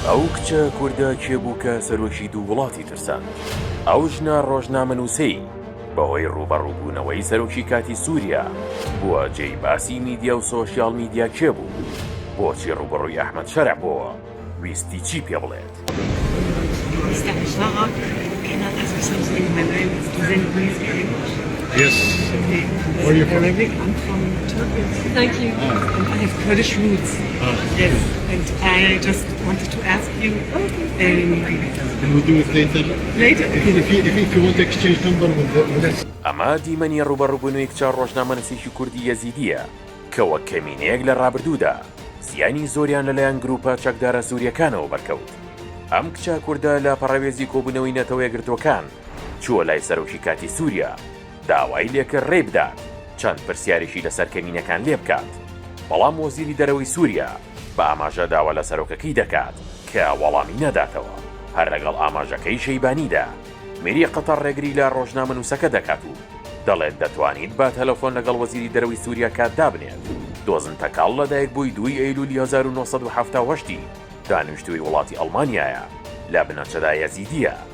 ئەو کچە کوردە کێ بوو کە سەرۆکی دوو وڵاتی ترساند؟ ئەو ژنە ڕۆژنامەنووسەی بەهۆی ڕووبەڕووبوونەوەی سەرۆکی کاتی سووریا بووە جێی باسی میدیا و سۆشیال میدیا کێ بوو؟ بۆچی ڕووبەڕووی ئەحمەد شەرع بۆوە؟ ویستی چی پێ بڵێت؟ ئەمە دیمەنی ڕووبەڕووبوونەوەی کچە ڕۆژنامەنووسێکی کوردی یەزیدییە کە وەک کەمینەیەک لە ڕابردوودا زیانی زۆریان لەلایەن گرووپە چەکدارە سوورییەکانەوە بەرکەوت. ئەم کچە کوردە لە پەڕەوێزی کۆبوونەوەی نەتەوە یەکگرتووەکان چووە لای سەرۆکی کاتی سووریا، داوای لێکرد رێی بدات چەند پرسیارێکی لەسەر کەمینەکان لێبکات، بەڵام وەزیری دەرەوەی سوریا بە ئاماژە داوا لە سەرۆکەکەی دەکات کە وەڵامی نەداتەوە، هەر لەگەڵ ئاماژەکەی شەیبانیدا میری قەتەڕ رێگری لە رۆژنامەنووسەکە دەکات و دەڵێت دەتوانیت بە تەلەفۆن لەگەڵ وەزیری دەرەوەی سوریا کات دابنێت. دۆزن تەکاڵ لەدایکبووی دووی ئەیلولی هەزار و نۆ سەد و حەفتا و هەشت ی دانیشتووی وڵاتی ئەڵمانیایە، لە بنەچەدا یەزیدییە،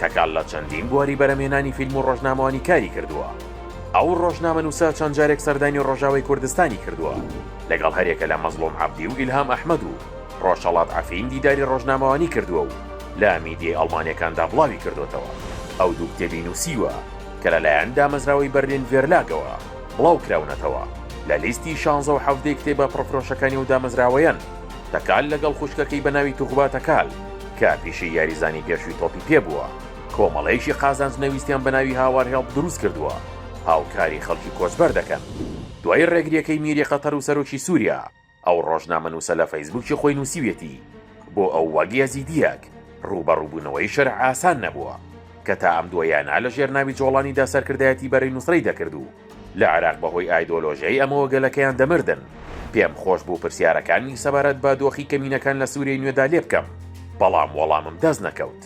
تەکال لە چەندین بواری بەرهەمهێنانی فیلم و ڕۆژنامەوانی کاری کردووە. ئەو ڕۆژنامەنووسە چەند جارێک سەردانی ڕۆژاوای کوردستانی کردووە، لەگەڵ هەرێکە لە مەزڵوم عەبدی و ئیلهام ئەحمەد و ڕۆژهەڵات عەفین دیداری ڕۆژنامەوانی کردووە و لە میدیای ئەڵمانییەکاندا بڵاوی کردۆتەوە. ئەو دوو کتێبی نووسیوە کە لەلایەن دامەزراوەی بەرلین ڤێرلاگەوە بڵاو کراونەتەوە، لە لیستی شانزە و حەڤدەی کتێبە پڕفرۆشەکانی ئەو دامەزراوەیەن. تەکال لەگەڵ خوشکەکەی بە ناوی توغبا تەکال، کە پیشەی یاریزانی پێشووی تۆپی پێ بووە، کۆمەڵەیەکی قازانج نەویستیان بە ناوی هاوار هێڵپ دروست کردووە، هاوکاری خەڵکی کۆچبەر دەکەن. دوای ڕێگرییەکەی میری قەتەر و سەرۆکی سووریا، ئەو ڕۆژنامەنووسە لە فەیسبووکی خۆی نووسیویەتی، بۆ ئەو وەک یەزیدییەک، ڕووبەڕووبوونەوەی شەرع ئاسان نەبووە، کە تا ئەم دواییانە لەژێر ناوی جۆڵانیدا سەرکردایەتی بەرەی نوسرەی دەکرد و، لە عێراق بەهۆی ئایدۆلۆژیای ئەمەوە گەلەکەیان دەمردن. پێم خۆش بوو پرسیارەکانی سەبارەت بە دۆخی کەمینەکان لە سووریەی نوێدا لێ بکەم، بەڵام وەڵامم دەست نەکەوت.